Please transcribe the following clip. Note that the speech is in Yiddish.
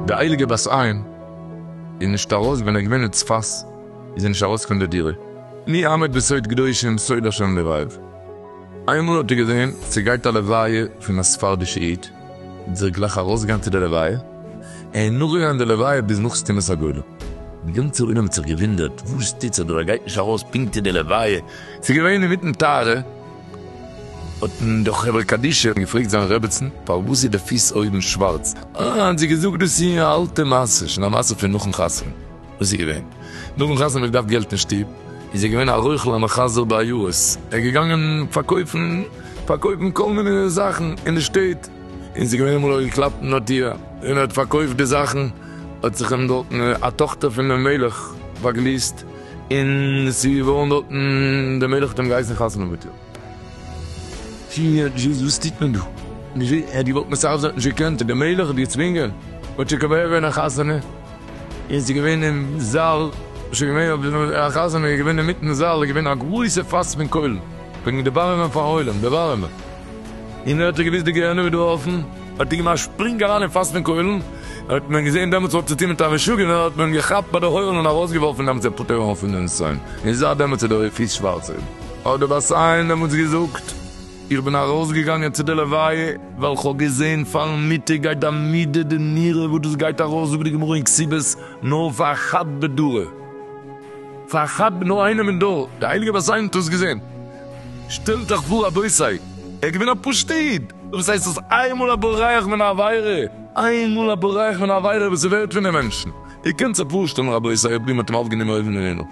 די הייליגע בת עין איז נישט ארויס ווען ער איז געווען אין צפת איז זי נישט ארויס פון די דירה מי עמד בסוד קדושים סוד ה' לבב איינמאל האט ער געזען ס'גייט א לוויה פון א ספרדישע איד, זיך גלייך ארויסגעגאנגען צו די לוויה, און נאכגעגאנגען די לוויה ביז נאך סתימת הגולל. די גאנצע עולם האט זיך געוואונדערט, וואס טוט זיך דא, ער גייט נישט ארויס פונקט צו די לוויה, ס'איז געווען אינמיטן טהרה, האטן די חברה קדישא געפרעגט זיין רעבעצן, פארוואס איז די פיס אויבן שווארץ, האט זי געזאגט, דאס איז א אלטע מעשה, שוין א מעשה פון נאכן חתונה. וואס איז געווען? נאכן חתונה האט געדארפט געלט אין שטוב, איז ער געווען א רוכל המחזר בעיירות, ער איז געגאנגען פארקויפן פארקויפן כל מיני זאכן אין די שטעט, און ס'איז געווען אמאל ער האט געקלאפט אין א טיר און ער האט פארקויפט די זאכן, האט זיך אים דארטן א טאכטער פונעם מלך באגליסט, און ס'איז געווארן דארטן, דער מלך האט אים געהייסן חתונה מיט איר. פֿיר דזשיס וואס טוט מען דא? דזשי ע דו וואלט מסרב זיין נישט געקענט, דער מלך האט געצווינגען, האט שוין כמעט געווען א חתונה, און ס'איז געווען אין זאל, שוין געווען אויף דעם א חתונה איז געווען אינמיטן זאל איז געווען א גרויסע פאס פון קוילן, וועגן דערווארעמען פארן עולם, דערווארעמען, און אויב האט ער געוואוסט די גיהנום איז דא אפן, האט ער געמאכט שפרינג אריין אין פאס פון קוילן, האט מען געזען דעמאלטס האט צוטון מיט א משוגענער, האט מען אים געכאפט ביי די הויערן און ארויסגעווארפן דעמאלטס איז ער פטור געווארן פון די נסיון, און זייט דעמאלטס איז דער פיס שווארץ. האט דער בת עין דעמאלטס געזאגט, איך בין ארויסגעגאנגען צו די לוויה, ווייל כ'האב געזען פארן מיטה גייט די מידה די נירה וואס דאס גייט ארויס זאגט די גמרא אין כסיבות נאר פאר א חד בדרא, פאר א חד ב נאר איינעם אין דור, די הייליגע בת עין האט עס געזען, שטעלט אייך פאר רבותי, ער איז געווען א פשוט איד, וואס הייסט דאס איינמאל א בורח מן העבירה, איינמאל א בורח מן העבירה וואס איז ווערט פון די מענטשן, איר קענט זיך פארשטעלן רבותי אויב איר האט אים אויפגענומען אויבן אין הימל.